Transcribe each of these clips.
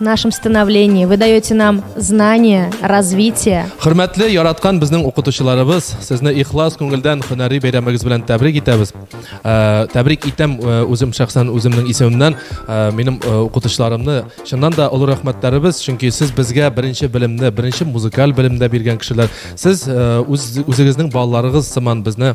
нашем становлении. Вы даете нам знания, развитие. Хөрмәтле яраткан безнең укытучыларыбыз, сезне ихлас күңелдән һөнәри бәйрәмегез белән тәбрик итәбез. Э, тәбрик итәм э, үзем шәхсән үземнең исемемнән, э, минем укытучыларымны чыннан да олы рәхмәтләребез, чөнки сез безгә беренче белемне, беренче музыкаль белемдә биргән кешеләр. Сез үз үзегезнең балаларыгыз сыман безне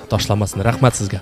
ташламасын рәхмәт сезгә